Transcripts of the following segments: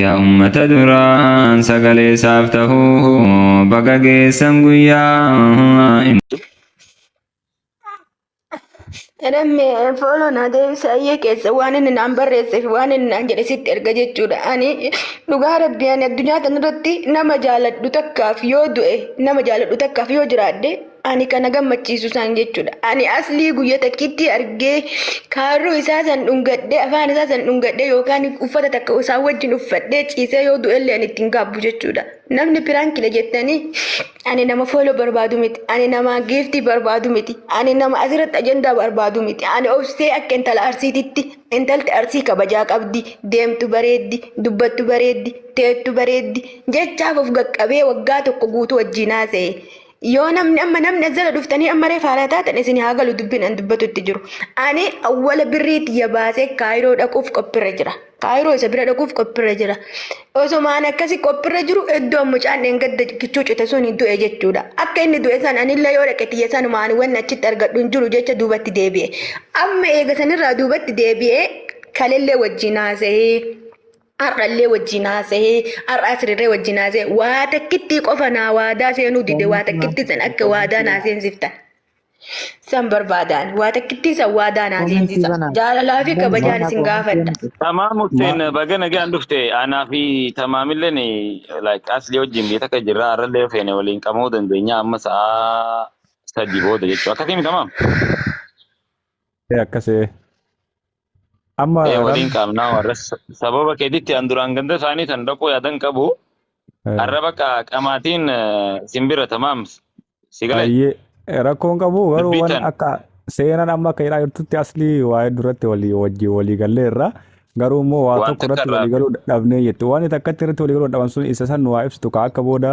Yaa ummata duraan sagalee isaaf tahuu baga geessan guyyaa. Namni fooloo naa deebisa ayyee keessa waan inni naan barreessee fi waan inni naan jedhe sitti erga jechuudha. Ani dhugaa rabbii ani addunyaa kanarratti nama jaaladhu takkaaf yoo du'e nama jaaladhu takkaaf yoo jiraadhe Ani kana gammachiisu san jechuudha. Ani aslii guyya takkitti argee kaarruu isaa san dhungadhee afaan isaa san dhungadhee yookaan uffata takka isaa wajjin uffadhee ciisee yoo du'ellee ani ittiin gaabbu jechuudha. Namni piraankidha jettanii ani nama fooloo barbaadu miti. Ani nama giiftii barbaadu miti. Ani nama asirratti ajandaa barbaadu miti. Ani obsee akka intala arsiititti intalti arsii kabajaa qabdi. Deemtu bareeddi, dubbattu bareeddi, teettu bareeddi. Jechaaf of gaqqabee waggaa tokko guutuu wajjin haasa'e. yoo namni amma namni as jala dhuftanii amma ree faaraa taatan isin haa galu dubbiin an dubbatutti jiru. Ani awwala birrii tiyya baasee kaayiroo dhaquuf qophirra jira. Kaayiroo isa bira dhaquuf qophirra jira. Osomaan akkasi qophirra jiru iddoo mucaan dheengadda kichuu cite sun du'e jechuudha. Akka inni du'e san anillee yoo dhaqe tiyya sanuma ani wanni achitti argadhu hin jiru jecha duubatti deebi'e. Amma eega sanirraa duubatti deebi'ee kalellee wajjin haasa'ee. Har'allee wajjin haasa'ee, har'a asirree wajjin haasa'ee, waa takkittii qofa naa waadaa seenuu dide, waa takkitti san akka waadaa naa seensiftan. San barbaadaan, waa takkittii san waadaa naa seensisa. Jaalalaa fi kabajaan isin gaafadha. Tamaam Hussein baga nagaan dhufte anaa fi tamaamilleen like asli wajjin biyya takka jirra har'allee feene waliin qabamuu dandeenya amma sa'aa sadii booda jechuudha akkasii miti tamaam. Akkasee. Amma ee ram waliin qaamnaa warra sa- sababa keetitti an duraan ganda isaanii san dhaquu yaadan qabu eh, har'a bakka qamaatiin eh, sin bira tamaam si galee ayyee rakkoon qabu garuu dubbii wan tan akka seenaan amma akka jedhaa jirtutti aslii waa'ee duratti walii wajjin walii gallee irraa garuu immoo waa waan tokko takka irratti irraa walii galuu dhabnee jettu waan takkatti irratti walii galuu dhaban sun isa san waa ibsitu ka akka booda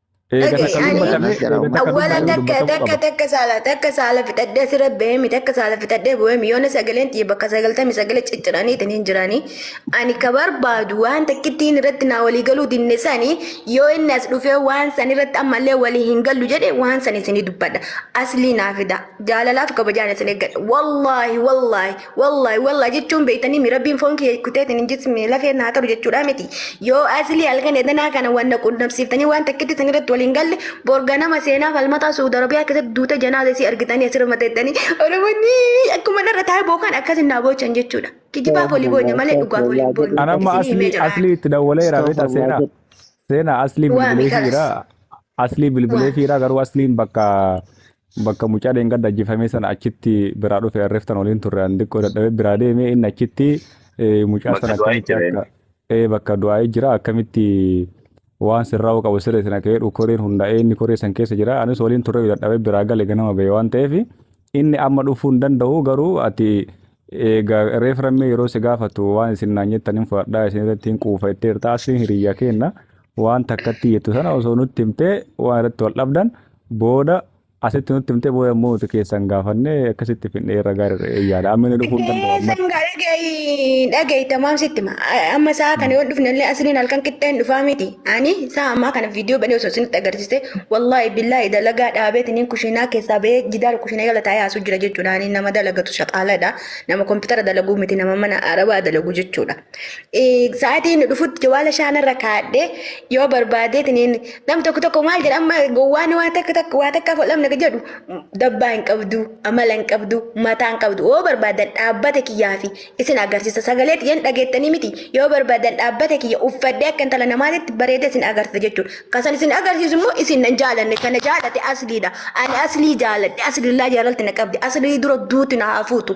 Eega Dhaga'i, takka ani- dubbatame Anas jedha, eega uummata takka Awwala dubbatame takka dubbatamuu takka qaba. takka saala takka saala fixadhee sira beemi takka saala fixadhee bu'eemi yoona sagaleen xiyya bakka sagaltamii sagalee cicciraniitiin hin jirani ani ka barbaadu waan takkittiin irratti naa walii galuu dinne sani yoo inni as dhufee waan san irratti ammallee walii hin gallu jedhe waan san isinii dubbadha aslii naa fida jaalalaaf kabajaan isin eeggadha wallaahi wallaahi Wallahi wallahi jechuun beektanii mi rabbiin foon kiyya kuteetiin hin jismi lafeen naa qabu jechuudha miti. Yoo asli halkan edanaa kana waan na qunnamsiiftanii waan takkitti isin irratti waliin galle borga nama seenaa falmataa Suud Arabiyaa keessatti duute janaaza isii argitanii asirra mateettanii Oromoonni akkuma narra taa'ee bookaan akkas hin naa boochan jechuudha. Kijibaaf olii boonya malee dhugaaf olii boonya. Ana amma Isin himee aslii jira. aslii itti dawwalee jira beektaa seenaa. Seenaa aslii Waami bilbilee kalas. fiira. Aslii bilbilee Waami. fiira garuu asliin bakka Bakka mucaa dheengadda ajjifamee sana achitti biraa dhufe arreeftan waliin turre an xiqqoo dadhabee biraa deeme inni achitti mucaa sana akkamitti akka ee bakka du'aa'ee jira akkamitti waan sirraa qabu siree sana ka'ee dhukoreen hundaa'ee inni koree san keessa jira anis waliin turre dadhabee biraa gale ganama ba'e waan ta'eef inni amma dhufuu hin danda'u garuu ati egaa reeframmee yeroo si gaafatu waan isin naan jettan hin fudhadhaa isin irratti hin quufa itti hirtaa asiin hiriyyaa keenna waan takkatti jettu sana osoo nutti himtee waan irratti wal dhabdan booda asitti nutti himtee booda immoo nuti keessan gaafanne akkasitti finnee irra gaarii eeyyaadha amma inni dhufuu hin danda'u amma San gaa dhagayi dhagayi tamaam sitti ma amma saa kana yoo dhufne illee asliin halkan qixxee hin dhufaa miti ani saa ammaa kana viidiyoo banee osoo isinitti agarsiiste wallaahi billaahi dalagaa dhaabeeti niin kushiinaa keessaa bahee jidaara kushiinaa jala taa'ee haasuu jira jechuudha ani nama dalagatu shaqaaladha nama kompiitara dalaguu miti nama mana arabaa dalagu jechuudha. Sa'aatii inni dhufutti jawaala shaanarra kaadhee yoo barbaadeetiniin nam tokko tokko maal jedha amma gowwaan waan takka takka waa takkaaf ol dhabna jedhu dabbaa hin qabdu amala hin qabdu mataa hin qabdu yoo barbaadan dhaabbata kiyyaa fi isin agarsiisa sagalee xiyyan dhageettanii miti yoo barbaadan dhaabbata kiyya uffadhee akka intala namaatitti bareedee isin agarsiisa jechuudha kasan isin agarsiisu immoo isin nan jaalanne kana jaalate asliidha ani aslii jaaladhe aslillaa jaalalti na qabdi aslii dura duuti na haa fuutu.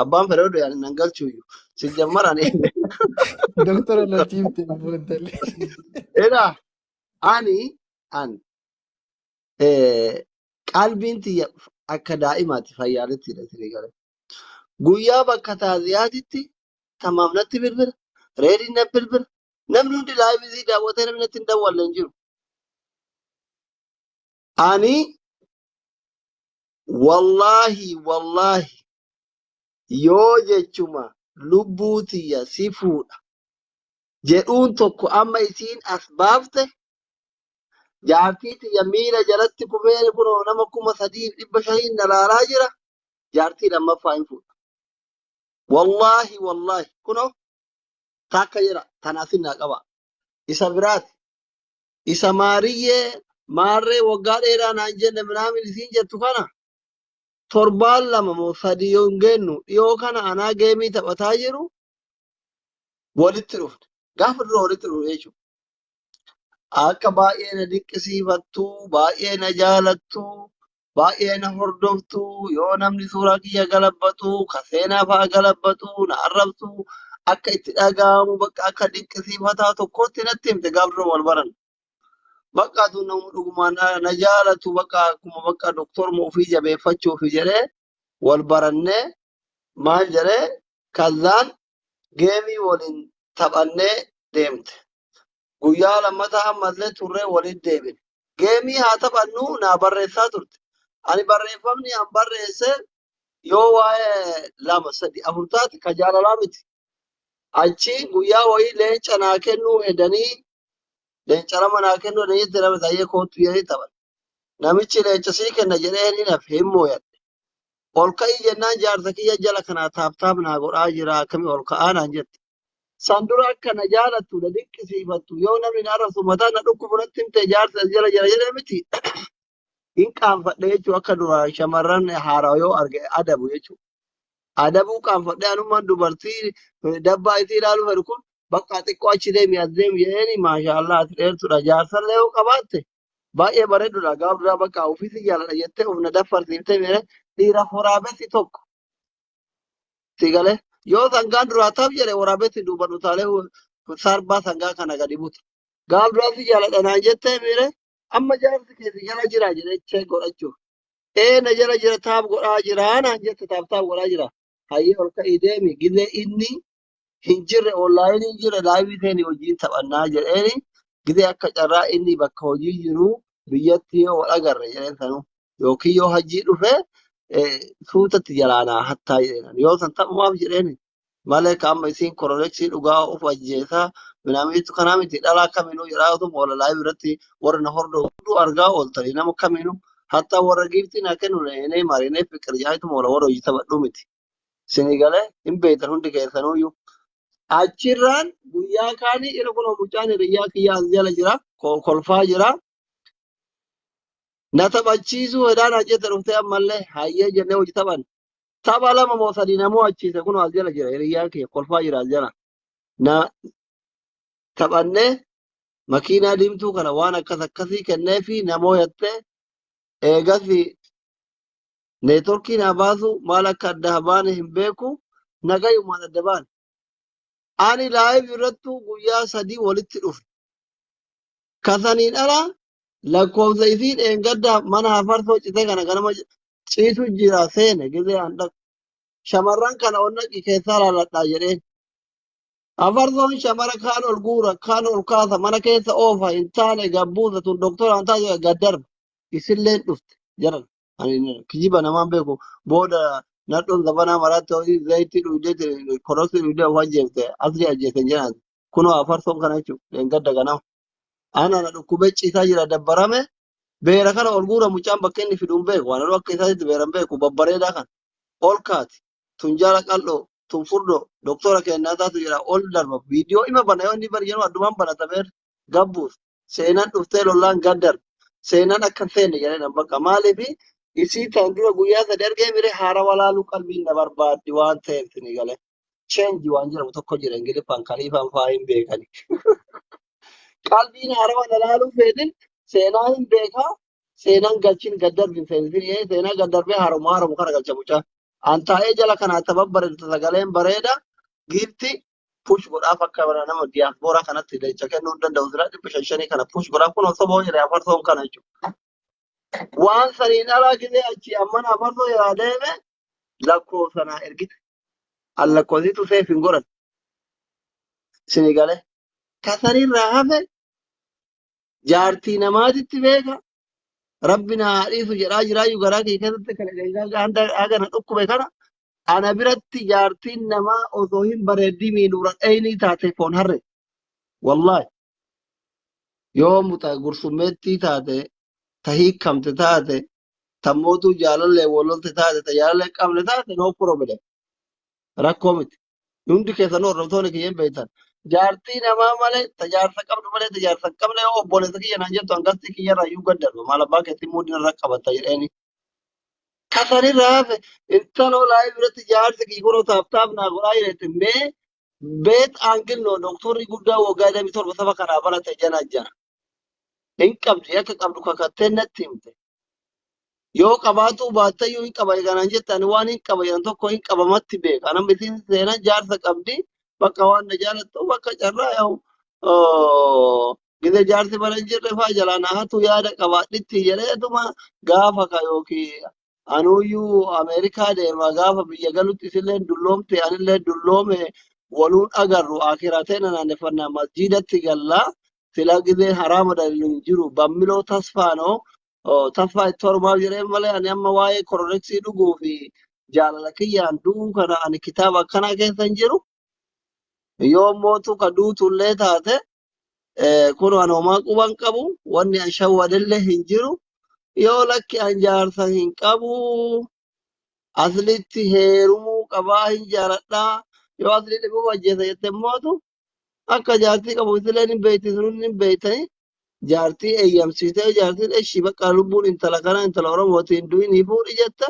Abbaan fedha oduu yaadin nan galchuuyyu. Si jammar ani. Doktora natti himte ammoo intalli. Egaa ani an eh, qalbiin tiyya akka daa'imaati fayyaalettidha isinii gale. Guyyaa bakka taaziyaatitti tamaaf natti bilbila. Reediin na bilbila. Namni hundi laayivii daawwatee namni natti hin dawwalle hin jiru. Ani wallaahi wallaahi yoo jechuma lubbuu tiyya si fuudha jedhuun tokko amma isiin as baafte jaartii tiyya miila jalatti kufee kunoo nama kuma sadiif dhibba shaniin na laalaa jira jaartii lammaffaa hin fuudha. Wallaahi wallaahi kunoo takka jira tanaafin naa qaba isa biraati isa maariyyee maarree waggaa dheeraa naan jenne minaamin isiin jettu kana torbaan lama moo sadii yoo hin geennu dhiyoo kana anaa geemii taphataa jiru walitti dhufne gaafa dura walitti dhufne jechuudha. Akka baay'ee na dinqisiifattu baay'ee na jaalattu Baay'ee na hordoftu yoo namni suuraa kiyya galabbatu ka seenaa fa'a galabbatu na arrabsu akka itti dhaga'amu bakka akka dinqisiifataa tokkootti natti himte gaaf dura wal baran. Bakka aduun namni dhugumaan na, na jaalatu bakka akkuma bakka doktorma ofii jabeeffachuufi jedhee wal barannee maal jedhee kazzaan geemii waliin taphannee deemte. Guyyaa lammataa ammallee turree waliin deebine. Geemii haa taphannu naa barreessaa turte. Ani barreeffamni an barreesse yoo waa'ee lama sadi afur taate ka jaalalaa miti. Achi guyyaa wayii leenca naa kennuu hedanii leenca lama naa kennuu hedanii itti namni taa'ee koottu jedhanii taphan. Namichi leenca sii kenna jedhee hin hinafe hin mooyadhe. Ol ka'ii jennaan jaarsa kiyya jala kanaa taap taap naa godhaa jira akkami ol ka'aa naan jette. San dura akka na jaalattu na dinqisiifattu yoo namni na arrabsu mataa na dhukkubu natti himte jaarsi as jala jira jedhee miti. Hin qaanfadhe jechuun akka duraan shamarran haaraa yoo arge adabu jechuudha. Adabuu qaanfadhee anummaan dubartii eh, dabbaa isii ilaaluu fedhu kun bakka xiqqoo achi deemi as deemi jedheeni maashaallah ati dheertudha jaarsallee yoo qabaatte Baay'ee bareedudha. Gaaf duraa bakka ofii si jaaladha jettee of na daffarsiiftee miire dhiira waraabessi tokko. Si galee yoo sangaan duraa taf jedhe waraabessi duuban utaalee sarbaa sangaa kana gadi buta. Gaaf duraa si jaaladha naan jettee miire amma jaarsi kee si jala jira jedhee check godhachuuf. Ee na jala jira taaf godhaa jira naan jette taaf taaf godhaa jira. Hayyee ol ka'ii deemi gizee inni hin jirre onlaayinii hin jirre laayivii ta'een wajjin taphannaa jedheeni gizee akka carraa inni bakka hojii jiru biyyatti yoo wal agarre jedheen sanuu yookiin yoo hajjii dhufe eh, suutatti jalaanaa hattaa jedheen yoo san taphumaaf jedheeni malee ka amma isiin koroleksii dhugaa of ajjeesaa minaamiitu kanaa miti dhalaa kaminuu jedhaa utuu moola laayivii irratti warri na hordoo hunduu argaa ooltanii nama kaminuu hattaa warra giiftii naa kennu na eenee marinee fiqir jaayitu moola warra hojii taphadhuu miti. Isinii galee hin beektan hundi keessanuuyyuu. Achirraan guyyaa kaanii irra kunoo mucaan hiriyyaa kiyyaa as jala jira. ko- Kolfaa jira. Na taphachiisuu hedaan hajjete dhuftee ammallee hayyee jennee hojii taphan. Tapha lama moo sadii na mo'achiise kunoo as jala jira hiriyyaa kiyya kolfaa jira as jala. Na taphannee makiinaa diimtuu kana waan akkas akkasii kenneefi na mo'attee eegasii Neetworkiin haa baasu maal akka adda haa baane hin beeku nagayumaan adda baane. Ani laayiv irrattuu guyyaa sadii walitti dhufe. Kasaniin ala lakkoofsa isii dheengadda mana hafarsoo citee kana ganama ciisu jira seene gizee an dhaqu. Shamarran kana onnaqi keessaa laaladhaa jedheen. Afarsoon shamara kaan ol guura, kaan ol kaasa, mana keessa oofa, hin taane gabbuusa tun doktora hin taatu gad darba. Isilleen dhufte jaran. Ani kijiba namaan beeku booda nadhoon zabanaa maraatti horii zayitii dhuydee koroksii dhuydee of ajjeefte asli ajjeesan jedhan. Kunoo afarsoon kana jechuudha. Leengadda ganama. Ana na dhukkubee ciisaa jira dabbarame beera kana ol guura mucaan bakka inni fiduun beeku. Ananuu akka isaatti beeran beeku babbareedaa kana. Ol kaati. tun jaala qal'oo tun furdoo doktora kennaa taatu jira ol darba viidiyoo ima bana yoo inni bari jedhamu addumaan banatameer gabbuus seenaan dhuftee lollaan gaddar seenaan akka seenne jedhan bakka maaliif isii tan dura guyyaa sadi argee mire haara walaalu qalbiin na barbaaddi waan ta'eef sini gale cheenji waan jedhamu tokko jira ingiliffaan kaliifaan faa hin beekani qalbiin haara walaaluu feetin seenaa hin beekaa seenaan galchin gad darbi feenfiri'ee seenaa gad darbee haaromuu haaromuu kana galcha mucaa. An taa'ee jala kana akka babbareeddu sagaleen bareeda giifti push godhaaf akka bara nama diyaaspooraa kanatti leecha kennuu hin danda'u sila dhibba shan shanii kana push godhaaf kun osoo ba'uu jedhee afarsoon kana jechuudha. Waan saniin alaa gisee achi ammana afarsoo jalaa deeme lakkoofsa naa ergite. An lakkoofsitu seef hin godhan sini galee. Tasaniirraa hafe jaartii namaatitti beeka rabbi na haa dhiisu jedhaa jiraayyu garaa kee keessatti kan egaa hanga haga na dhukkube kana ana biratti jaartiin namaa osoo hin bareeddii miinuura dhaynii taate foon harre wallaahi yoo muta gursummeettii taate ta hiikamte taate ta mootuu jaalallee walolte taate ta jaalallee qabne taate no problem rakkoo miti Hundi keessanuu hordoftoonni kiyya hin beektan. Jaartii namaa malee, ta jaarsa qabdu malee, ta jaarsa hin qabne yoo obboleessa kiyya naan jettu hangastii kiyya irraa iyyuu gaddarba. Maal abbaa keetii muudii irra qabatta jedheeni. Kasan irra hafe intaloo laayii biratti jaarsi kiyya kunoo taaf taaf naa godhaa jedhette mee beet aangil noo doktorri guddaa waggaa 27 saba kanaa balate jana jana. hin qabdi akka qabdu kakattee natti himte yoo qabaatuu baattayyuu hin qaba eeganaan jette ani waan hin qaba jedhan tokko hin qabamatti beeka anam isiin seenan jaarsa qabdi bakka waan na jaalattu bakka carraa yaa'u gida jaarsi bara hin jirre faa jalaa na hatu yaada qabaadhitti jedhee atuma gaafa ka yookiin anuuyyuu Ameerikaa deema gaafa biyya galutti isilleen dulloomte anillee dulloome waluun agarru akiraa teena naanneffannaa masjiidatti galla silaa gizeen haraama dalilu hin jiru bammiloo tasfaanoo taffaa itti hormaaf jedheen malee ani amma waa'ee kororeksii dhuguu fi jaalala kiyyaan du'uu kana ani kitaaba akkanaa keessa hin jiru Yoo mootu ka duutullee taate kun an homaa quban qabu wanni an shawwadelle hin jiru yoo lakki an jaarsa hin qabu aslitti heerumuu qabaa hin jaaladhaa yoo asli dhibuu ajjeesa jette mootu akka jaartii qabu isilee hin beeyti sunun hin beeytani jaartii eeyyamsiisee jaartiin eshi bakka lubbuun intala kana intala oromooti hin du'in hin fuudhi jette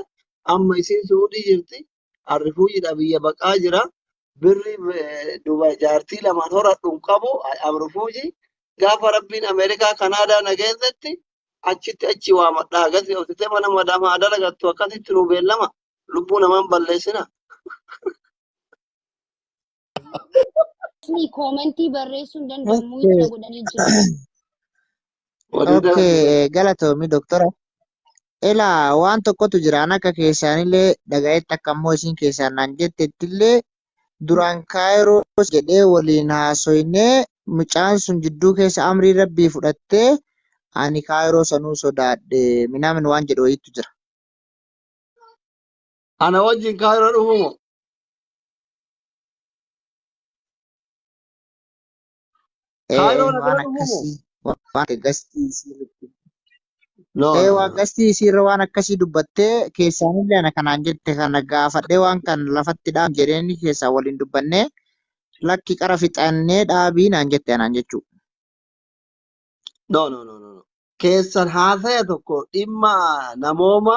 amma isiin suudhii jirti Arrifuujiidha biyya baqaa jira. Birri eh, Dubai jaartii lamaan horadhu hin qabu. I am refugee. Gaafa rabbiin Ameerikaa Kanaadaa na geessetti achitti achi waamadha. Akkasii obsitee mana madaama haa dalagattu akkasitti nu beellama. Lubbuu namaan balleessina. Isni koomentii barreessuu hin danda'u Okay. muuyita godhanii jiru. Oduu Okay, dabarsu. eh, galatoomi doktora. Ilaa waan tokkotu jira an akka keessaanillee dhagayetti akka immoo isin keessaan naan jettettillee duraan kaayiroos jedhee waliin haasoynee mucaan sun jidduu keessa amrii rabbii fudhattee ani kaayiroo sanuu sodaadhe minaamin waan jedhu wayiitu jira. Ana wajjin Kaayiroo dhufuu moo? Ee Kaayiroo na waan bira dhufuu moo? akkasii waan gastii isii irratti No, ee no, waan no. gastii isii irra waan akkasii dubbattee keessaanillee ana kanaan jette kana gaafadhee waan kan lafatti dhaam jedheen keessaa waliin dubbannee lakki qara fixannee dhaabii naan jette anaan jechuu. No, no, no, no. no. Keessan haasaya tokko dhimma namooma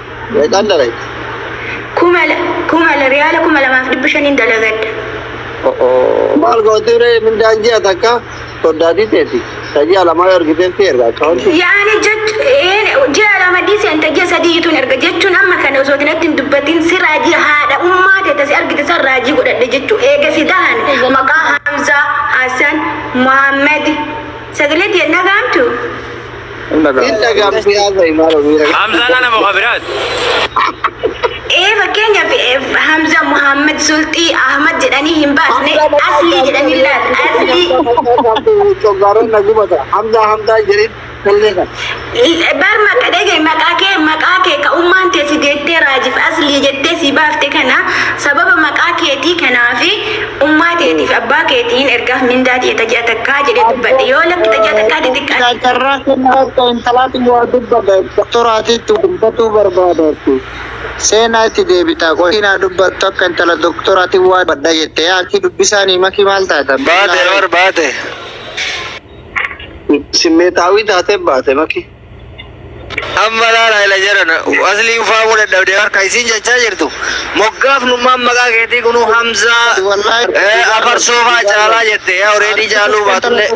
Meeqaan dalagda? Kuma la- kuma la- riyaala kuma lamaaf dhibba shaniin dalagadha. Maal gootii ree mindaan ji'a takka soddaatii teeti. Kan ji'a lamaa yoo argiteef si erga akkaawuntii. Yaani jechu een ji'a lama dhiisi anta ji'a sadii ituun erga jechuun amma kana osoo tinatti hin dubbatin si raajii haadha ummaa teeta si argite san raajii godhadhe jechuu eega si dahan maqaa Hamzaa Hasan Muhammad sagalee tiyya nagaamtu Hin dhagahamu si haasa'i maaloo miira qaba. Hamzaan ana muka biraati. Ee fakkeenyaaf eh, Hamza Muhammad Sulxii Ahmad jedhanii hin baasne asli jedhanii laal asli Coggaaroon na gubata. Hamzaa hamzaa jedhin tollee kan. bar maqa dhege maqaa kee maqaa kee ka ummaan tee si deettee raajif asli jettee si baafte kana sababa maqaa keetii kanaafi Ummaa teetii fi abbaa keetiin ergaaf mindaa tiyya ta ji'a takkaa jedhee dubbadhe. Yoo lakki ta ji'a Abdii takkaa didde ati. Abdii carraa kennaa akka intalaati waa dubbadha doktoraati itti dubbatuu barbaada ati seenaa itti deebitaa qoy siin haa dubbattu akka intala doktoraati waa dubbadha jette yaa akii dubbisaanii makii maal taate abdii Baate bar baate. Simmeetaawii taatee baate makii. Amma laala ila jedhan aslii ufaamuu dadhabdee harka isiin jechaa jirtu moggaafnummaan maqaa keetii kunuu hamzaa eh, afarsoo faa caalaa jette yaa oreedii caaluu baatullee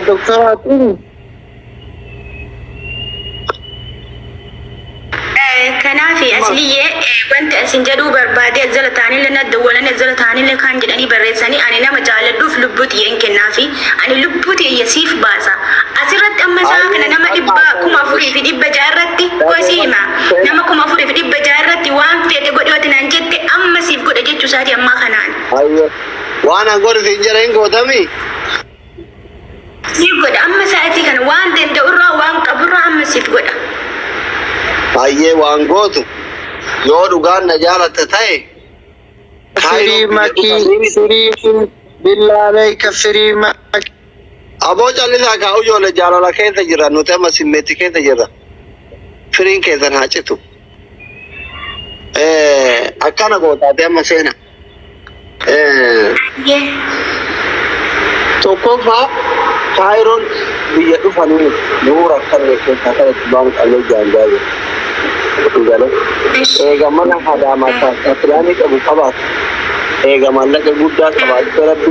Doktoraatiin Kanaafi Asliyyee wanti an sin jedhuu barbaadee as jala taanillee na dawwalanii as jala taanillee kaan jedhanii barreessanii ani nama jaaladhuuf lubbuu tiyya hin kennaafi ani lubbuu tiyya siif baasa asirratti amma isaa kana nama dhibba kuma afurii fi dhibba ja'a irratti koo si hima nama kuma afurii fi dhibba ja'a irratti waan feete godhi wati naan jette amma siif godhe jechuu isaati ammaa kanaan. Ayyee. Waan an godhu siin jedha hin gootami. Siif godha amma sa'atii kana waan danda'urraa waan qaburraa amma siif godha. Hayyee waan gootu yoo dhugaan na jaalatte ta'e Firii makii, firii billaa beeka firii makii. Aboo callisaa kaa ijoollee jaalala keessa jirra nuti amma simmeetti keessa jirra. Firiin keessan haa citu. Eh, Akkana gootaati amma seena. Tokkoffaa kaayiroon biyya dhufanii yoo rakkanne keessaa kan itti baamu qabnee jaanjaa jiru. Galee eega mana hadaamaa taasisaa filaanii qabu qabaatu eega maallaqa guddaa qabaatu rabbi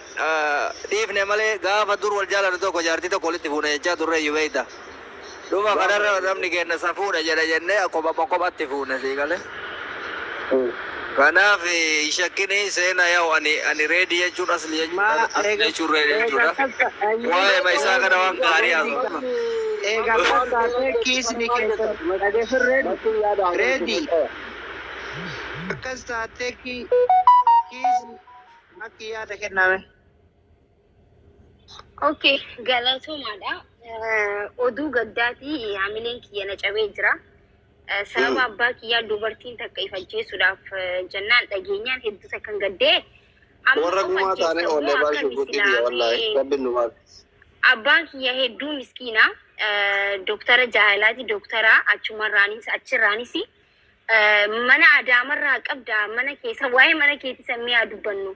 dhiifne malee gaafa dur wal jaalannu tokko jaartii tokko walitti fuuna jechaa turreeyyu beekta. Dhuma kanarra namni keenna safuudha jedha jennee akkuma kopha kophaatti fuune sii galee. Kanaaf hin shakkini seena yaa'u ani ani reedi jechuun asli jechuun Ma as- asli eega jechuun reedi eega jechuudha. takka ayyuu Waa'ee ma isaa kana waan gaarii haasofna. eega takka ta'e kiisni keessan dhageessan reedi reedi akkas taatee ki- kiisni Makkii yaada kennaa mee. Ok, galatoomaadha. Eh, Oduu gaddaatii eh, hamileen kiyya na cabee jira. Eh, Sababa abbaa kiyyaa dubartiin takka if ajjeesuudhaaf eh, jennaan dhageenyaan hedduu takkan gaddee. Amma Warra of gumaa taanee ajjeessa oollee moo baasuu akkam guddii biyya wallaahi. islaamee? Rabbiin nu maal. Abbaan kiyya hedduu miskiina. Eh, Doktara jaalaati, doktara achumarraanis achirraanis Mana adaamarraa qabda mana keessa waa'ee mana keetii san mi'aa dubbannu.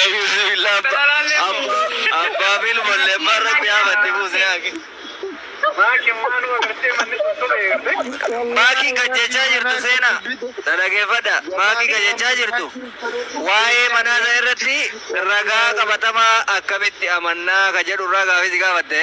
Eyyuzubillah abba abba abba bil malle barra qiyamatti buuse yaake. Maaki waan wagartee manni sun tole eegde. Maaki kan jechaa jirtu seena dhaggeeffadha. Maaki kan jechaa jirtu waa'ee manaa sana irratti ragaa qabatamaa akkamitti amannaa ka jedhu irraa gaafii si gaafatte.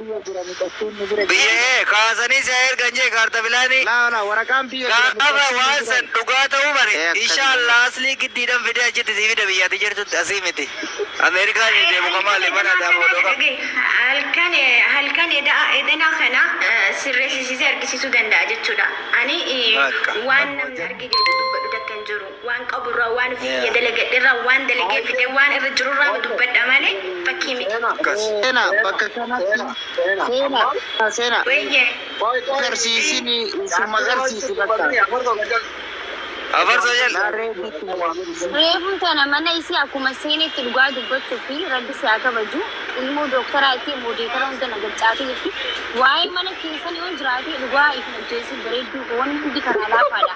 Biyya e kaasanii si haa ergan jee kaarta filaani gaafa waan san dhugaa ta'uu bare insha allah aslii giddiidhan fidee achitti sii fida biyya ati jirtutti asii miti America ni deemu ka maali mana ati amoo dhoqa Dhage halkan halkan eda'a edana kana sirresisise argisisuu danda'a jechudha ani Bakka. waan namni arge jedhu dubbadhu takka hin jiru. Waan qaburraa, waan ofii kiyya dalagadherraa, waan dalagee fidee, waan irra jirurraama dubbadha malee fakkii miti. Seena bakka kanatti seena seena seena Weeyyee. agarsiisini suma agarsiisi bakka Afarsa jal. Reefuu tana mana isii akkuma seenetti dhugaa dubbachuu fi rabbi si haa kabaju ilmoo dooktaraa itti moodeetara hunda na gaccaatii jirti waa'ee mana keessan yoo jiraate dhugaa isin ajjeesuu bareedduu koo wanni hundi kanaa laafaadha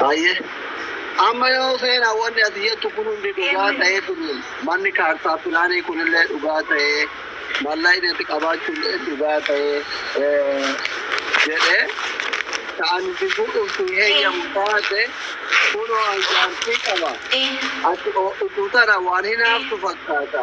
Baay'ee. Amma yoo seenaa wanni ati jettu kun hundi dhugaa Amen. ta'ee kun manni kaartaa pilaanii kunillee dhugaa ta'ee mallaayni itti qabaachuullee dhugaa ta'ee eh, jedhee ta'an itti fuudhuuf hin heeyyamu taate kunoo anjaartii qaba. Ee. Ati utuu tana waan hinaaftu fakkaata.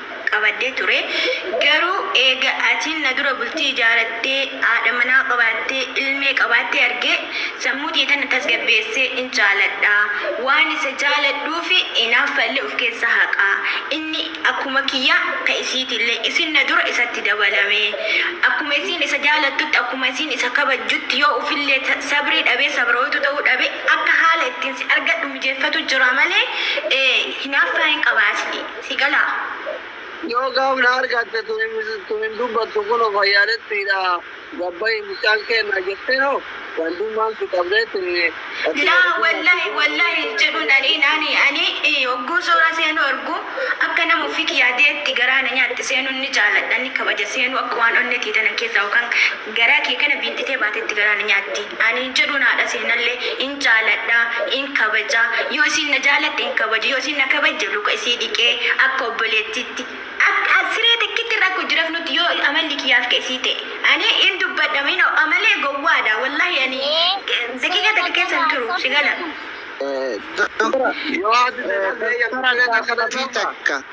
qabadhee ture. Garuu eega atiin na dura bultii ijaarattee, haadha manaa qabaattee, ilmee qabaattee argee, sammuu tiyya tana tasgabbeessee hin jaaladha. Waan isa jaaladhuufi inaaffallee uf keessaa haqa. Inni akkuma kiyya ka isiitillee. Isin na dura isatti dabalame. Akkuma isiin isa jaalattutti, akkuma isiin isa kabajjutti yoo ufillee sabrii dhabee, sabrooytuu ta'uu dhabe, akka haala ittiin si argadhu mijeeffatu jira malee, hinaaffaa hin qaba asli. si galaa. Yoo gaaf na argatte tun hin dubbattu kuno fayyaalettiidha gabbayi mucaan keenna jettee hoo gandummaan si qabdee tuni ati Laa bareduu wallahi naattitee wallahi hin bareeduu jedhun ani naani ani i, hogguu suuraa seenuu argu akka nama ofii kiyyaa ta'etti garaa na nyaatti seenun ni jaaladha ni kabaja seenuu akka waan onne tiyya tana keessaa yookaan Garaa kee kana biinxitee baatetti garaa na nyaatti. Ani hin jedhuun haadha seenallee hin jaaladha, hin kabaja. Yoo isiin na jaalatte hin kabaju, yoo isiin na kabajje luka isii dhiqee akka obboleettiitti, akka siree takkitti irra akka hojii rafnutti yoo amalli kiyyaa akka isii ta'e. Ani hin dubbadha hin ho'a malee gowwaadha. Wallahi ani daqiiqaa takka keessa hin turu. Si gala. Doktora, Doktora gaafii takka.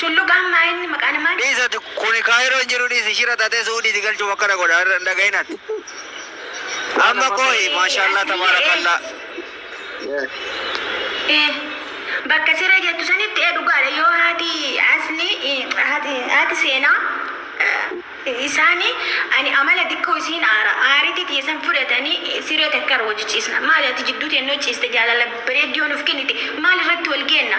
Shullugaan maa inni maqaa namaa. Dhiis ati kuni kaayiroo hin jiru dhiisi shira xaxee su'uudiiti galchuuf akkana godha irra hin dhagahin ati amma koohi maashaallaa tabaarakallaah. Bakka siree jettu sanitti ee dhugaadha yoo haati asli haati seenaa isaani ani amala dikkoo isiin aara aariti tiyya san fudhatani siree takka irra wajji ciisna maali ati jidduu teennoo ciiste jaalala bareeddiyoo nuuf kennite maal irratti wal geenna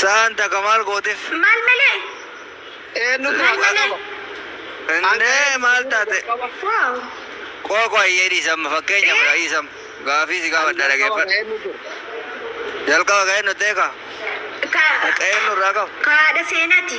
Sa'aan takka maal gooteef? Maal malee? Eenyutu Maal maqaa malee? qaba? Innee maal taate? Wow. Qoy qoy iyyee dhiisamma fakkeenya fudha dhiisam. Gaafii si gaafadha dhageeffadha. Eenyu ture? Jalqaba qeennu teeka. Ka, Qeennu irraa qabu. ka haadha seenati.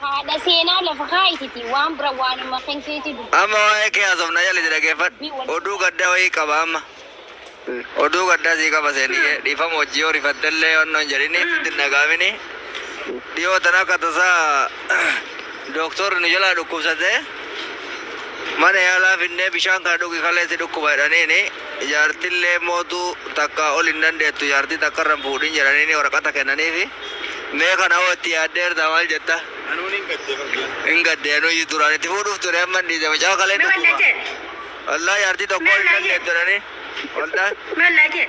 Haadha seenaa lafa kaayititi waan bira waanuma kan keetii dubbadhu. Amma waa'ee kee haasofna calisi dhageeffadhu oduu gaddaa wayii qaba amma oduu gaddaa sii qaba seeniyyee dhiifama hojjii yoo rifattellee wanna hin jedhini sitti hin dhaga'amini dhiyoo tana akka tasaa dooktorri nu jalaa dhukkubsatee mana yaalaa finnee bishaan kana dhugi kalee si dhukkuba jedhaniini Jaartillee mootuu takkaa ol hin dandeettu jaartii takka irra hin fuudhin jedhaniini waraqata kennaniifi. Mee kana hoo itti yaaddeertaa maal jetta? Anuun hin gadde bakka. Hin gadde anuyyuu duraan itti fuudhuuf ture amma hin dhiise mucaa kalee Mee wallaa dhukkuba. jedhe. Wallaa jaartii tokkoo Mee ol hin wallaa jedhe. dandeettu jedhanii. Wallaa. Mee wallaa jedhe.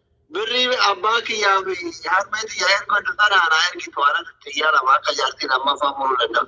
Birrii abbaa kiyyaa fi harmee tiyyaa ergadhu tanaa naa ergitu ana tiyyaa lama akka jaartii lammaffaa muruu danda'u.